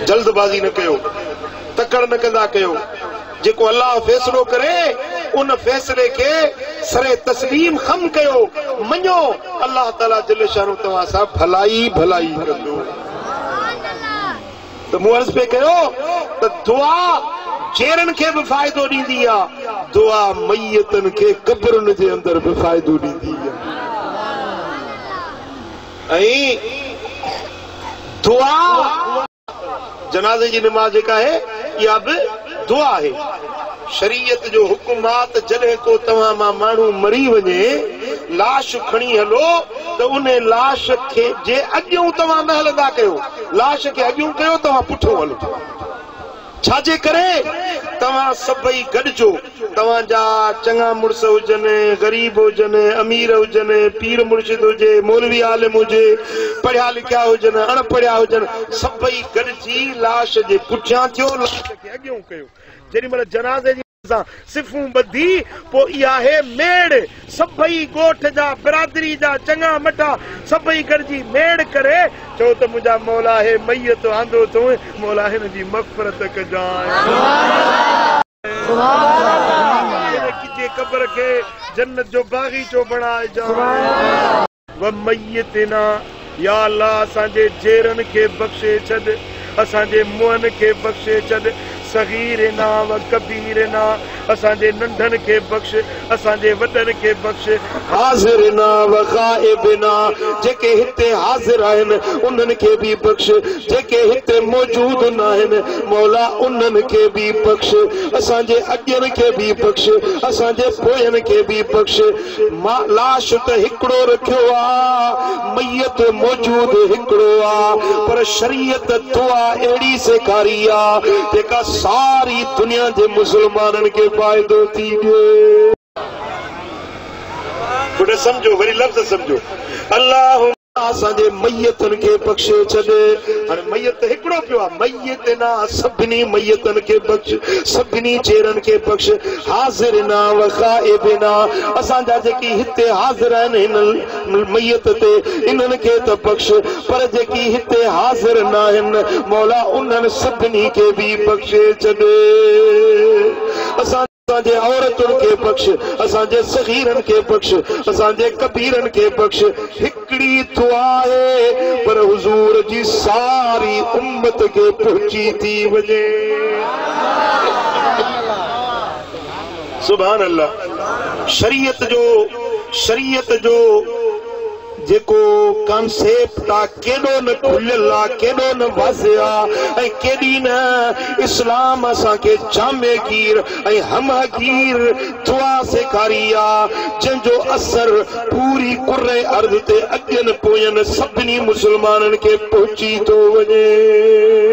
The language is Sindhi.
جلد بازي نه ڪيو، تڪڙ نه ڪندا ڪيو، جيڪو الله فيصلو ڪري ان فيصلي کي سر تسليم خم ڪيو، مڃو الله تعالي جل شانه توهان سان ڀلائي ئي ڀلائي ڪندو. ته مون عرض پئي ڪيو ته دعا جيئرن کي به فائدو ڏيندي آ، دعا ميتن کي قبرن جي اندر به فائدو ڏيندي آ. ۽ دعا جنازي جي نماز جيڪا آهي اها به دعا آهي شريعت جو حڪم آ ته جڏهن ڪو توهان مان ماڻهو مري وڃي لاش کڻي هلو ته ان لاش کي جي اڳيون توهان نه هلندا ڪيو لاش کي اڳيون ڪيو توهان پٺيون هلو ڇا جي ڪري توهان سڀئي گڏجو، توهان جا چڱا مڙس هجن، غريب هجن، امير هجن، پير مرشد هجي، مولوي عالم هجي، پڙهيا لکيا هجن، اڻ پڙهيا هجن، سڀئي گڏجي لاش جي پٺيان ٿيو، لاش کي اڳيئون ڪيو، جيڏي مهل جنازي جي. سان صفون ٻڌي پوء اها هي ميڙ سڀئي ڳوٺ جا برادري جا چڱا مٺا سڀئي گڏجي ميڙ ڪري چئو ته منهنجا مولا هي ميت آندو اٿئون مولا هن جي مغفرت ڪجانء. هن ڪجي قبر کي جنت جو باغيچو بڻائجانء. و ميتنا يا الله اسان جي جيرن کي بخشي ڇڏ اسان جي منهن کي بخشي ڇڏ صغيرنا و ڪبيرنا اسان جي ننڍن کي بخش اسان جي وڏن کي بخش. حاضرنا و غائبنا جيڪي هتي حاضر آهن انهن کي به بخش جيڪي هتي موجود ناهن مولا انهن کي به بخش اسان جي اڳين کي به بخش اسان جي پوين کي به بخش. مان لاش ته هڪڙو رکيو آ، ميت موجود هڪڙو آ، پر شريعت دعا اهڙي سيکاري آ، جيڪا ساري دنيا جي مسلمانن کي فائدو ٿي ڏي. گڏ سمجهو وري لفظ سمجهو، اللهم. اسان جي ميتن کي بخشي ڇڏ. هاڻي ميت ته هڪڙو پيو آ. ميت نه آ، سڀني ميتن کي بخش، سڀني چيرن کي بخش، حاضرنا و غائبنا، اسان جا جيڪي هتي حاضر آهن هن ميت تي، انهن کي ته بخش، پر جيڪي هتي حاضر ناهن، مولا انهن سڀني کي به بخشي ڇڏ. اسان. اسان جي عورتن کي بخش، اسان جي صغيرن کي بخش، اسان جي ڪبيرن کي بخش. هڪڙي دعا آهي پر حضور جي ساري امت کي پهچي ٿي وڃي. سبحان الله شريعت جو شريعت جو جيڪو ڪانسيپٽ آ. ڪيڏو نه کليل آ، ڪيڏو نه واضح آ ۽ ڪيڏي نه اسلام اسان کي جامع گير ۽ همه گير دعا سيکاري آ، جنهن جو اثر پوري ڪره ارض تي اڳين پوين سڀني مسلمانن کي پهچي ٿو وڃي.